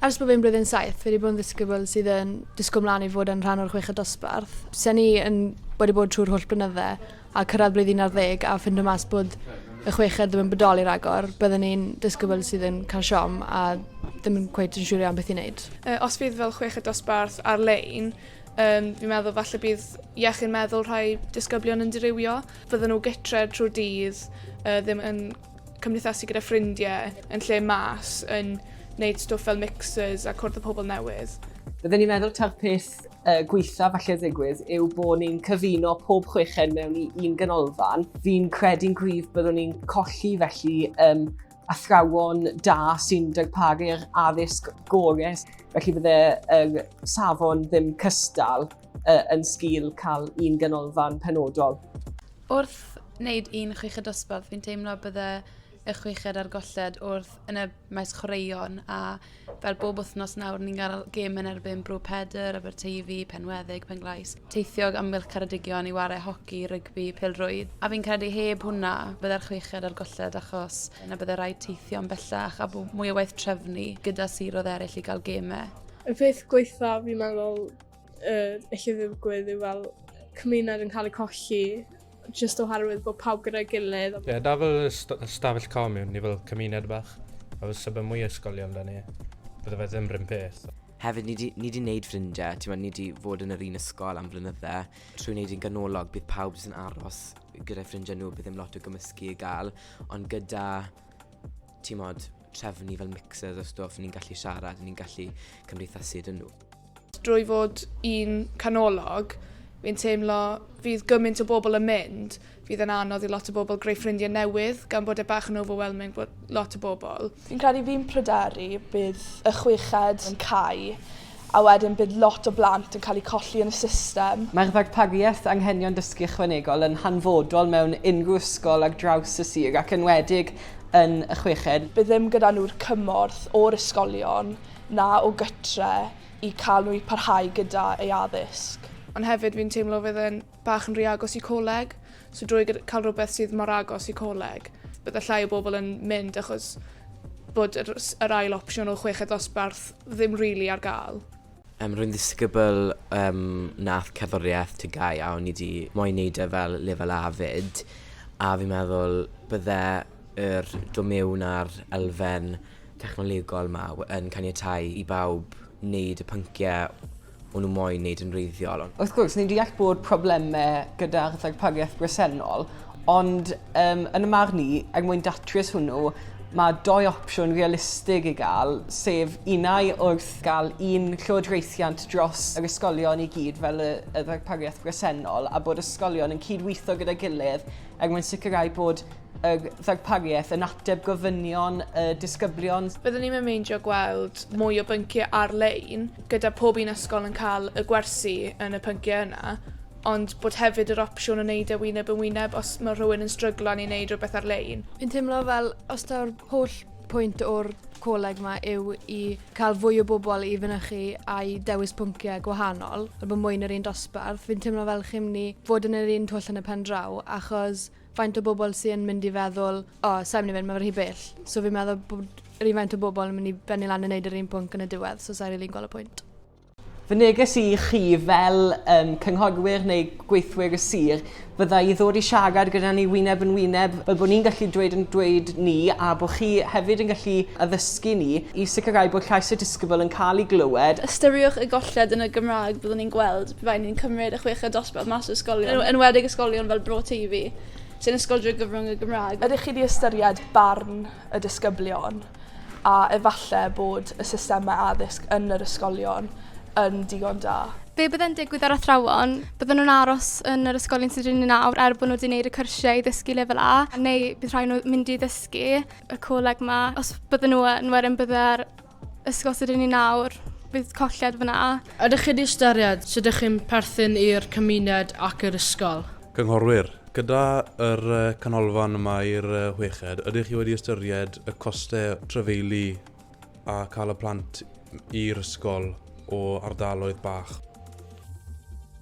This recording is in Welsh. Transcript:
Ers bod fi'n blwyddyn saith, fi wedi bod yn ddisgybl sydd yn disgwyl mlaen i fod yn rhan o'r chweched dosbarth. Se'n ni yn wedi bod trwy'r holl blynydde a cyrraedd blwyddyn un ar ddeg a ffindo mas bod y chweched ddim yn bodoli ragor, byddwn ni'n disgybl sydd yn cael siom a ddim yn cweit yn siŵr iawn beth i wneud. Uh, os fydd fel chweched dosbarth ar-lein, um, fi'n meddwl falle bydd iechyd meddwl rhai disgyblion yn dirywio. Fydden nhw gytre trwy'r dydd, uh, ddim yn cymdeithasu gyda ffrindiau yn lle mas yn wneud stwff fel mixers a cwrdd â pobl newydd. Bydden i'n meddwl taw'r peth uh, gweitha falle ddigwydd yw bod ni'n cyfuno pob chweched mewn i un ganolfan. Fi'n credu'n gryf byddwn ni'n colli felly um, athrawon da sy'n darparu'r addysg gorau, felly bydde'r uh, safon ddim cystal uh, yn sgil cael un ganolfan penodol. Wrth wneud un chweched dosbarth, fi'n teimlo bydde y chweched a'r golled wrth yn y maes chwaraeon a fel bob wythnos nawr ni'n cael gêm yn erbyn Bro Pedr, Aberteifi, Penweddig, Penglais, teithiog amgylch Caradigion i ware hoci, rygbi, pelrwydd. A fi'n credu heb hwnna bydde'r chweched a'r golled achos yna bydde rhaid teithio yn bellach a bod mwy o waith trefnu gyda siroedd eraill i gael gemau. Y peth gweitha fi'n meddwl yy ellu ddigwydd yw fel cymuned yn cael ei colli jyst oherwydd bod pawb gyda'i gilydd. Ie, yeah, da fel ystafell comiwn ni fel cymuned bach. A fel sebe mwy ysgolion da ni, bydde fe ddim rhywun peth. Hefyd, ni di, ni di wneud ffrindiau, ti'n ni di fod yn yr un ysgol am flynydde. Trwy wneud yn ganolog, bydd pawb jyst yn aros gyda'i ffrindiau nhw, bydd ddim lot o gymysgu i gael. Ond gyda, ti'n modd, trefnu fel mixers o stwff, ni'n gallu siarad, ni'n gallu cymdeithasu dyn nhw. Drwy fod yn canolog, fi'n teimlo fydd gymaint o bobl yn mynd, fydd yn anodd i lot o bobl greu ffrindiau newydd, gan bod e bach yn overwhelming bod lot o bobl. Fi'n credu fi'n pryderu bydd y chweched yn cau a wedyn bydd lot o blant yn cael eu colli yn y system. Mae'r ddarpariaeth Anghenion Dysgu Ychwanegol yn hanfodol mewn unrhyw ysgol ar draws y sir ac yn wedig yn y chweched. Bydd ddim gyda nhw'r cymorth o'r ysgolion na o gytre i cael nhw i parhau gyda ei addysg. Ond hefyd fi'n teimlo fydd e'n bach yn rhy agos i coleg, so drwy cael rhywbeth sydd mor agos i coleg, bydde llai o bobl yn mynd achos bod yr, yr ail opsiwn o chweched ddosbarth ddim rili really ar gael. Um, rwy'n ddisgybl um, nath cerddoriaeth tygau a o'n i wedi moyn neud e fel lefel A fyd a fi'n meddwl bydde yr do mewn ar elfen technolegol 'ma yn caniatáu i bawb wneud y pynciau o'n nhw moyn wneud yn wreiddiol ond... Wrth gwrs, ni'n deall bod problemau gyda'r ddarpariaeth bresennol, ond um, yn y marn i, er mwyn datrys hwnnw, mae doi opsiwn realistig i gael, sef unau wrth gael un llywodraethiant dros yr ysgolion i gyd fel y, y ddarpariaeth bresennol a bod ysgolion yn cydweithio gyda'i gilydd er mwyn sicrhau bod y ddarpariaeth yn ateb gofynion y disgyblion. Byddwn ni'n meindio gweld mwy o bynciau ar-lein, gyda pob un ysgol yn cael y gwersi yn y pynciau yna, ond bod hefyd yr opsiwn o wneud e wyneb yn wyneb os mae rhywun yn stryglan i wneud rhywbeth ar-lein. Fi'n teimlo fel os daw'r holl pwynt o'r coleg yma yw i cael fwy o bobl i fynychu a'i dewis pynciau gwahanol, a bod mwy yn yr un dosbarth, fi'n teimlo fel chi'n mynd i fod yn yr un twll yn y pen draw, achos faint o bobl sy yn mynd i feddwl, o, oh, sa'n mynd i fynd, mae fe rhy bell. So fi'n meddwl bod yr un faint o bobl yn mynd i bennu lan yn neud yr un pwnc yn y diwedd, so sa'n rili'n gweld y pwynt. Fy neges i chi fel um, cynghorwyr neu gweithwyr y sir fydda i ddod i siarad gyda ni wyneb yn wyneb fel bod ni'n gallu dweud yn dweud ni a bod chi hefyd yn gallu addysgu ni i sicrhau bod llais y disgybl yn cael ei glywed. Ystyriwch y golled yn y Gymraeg byddwn ni'n gweld Rhaid ni'n cymryd y chweched dosbarth mas o ysgolion, yn enwedig ysgolion fel Bro Teifi, sy'n ysgol drwy gyfrwng y Gymraeg. Ydych chi 'di ystyried barn y disgyblion a efallai bod y systemau addysg yn yr ysgolion yn digon da? Be bydde'n digwydd â'r athrawon? Bydden nhw'n aros yn yr ysgolion sydd 'da ni nawr er bod nhw 'di wneud y cyrsiau i ddysgu Lefel A, neu bydd rhaid nhw mynd i ddysgu y coleg 'ma? Os bydden nhw yn, wedyn bydde'r Ysgol sydd gen ni nawr, bydd colled fyna. Ydych chi wedi ystyried sut ydych chi'n perthyn i'r cymuned ac i'r ysgol? Cynghorwyr, gyda yr canolfan yma i'r chweched, ydych chi wedi ystyried y costau trafeilu a cael y plant i'r ysgol o ardaloedd bach?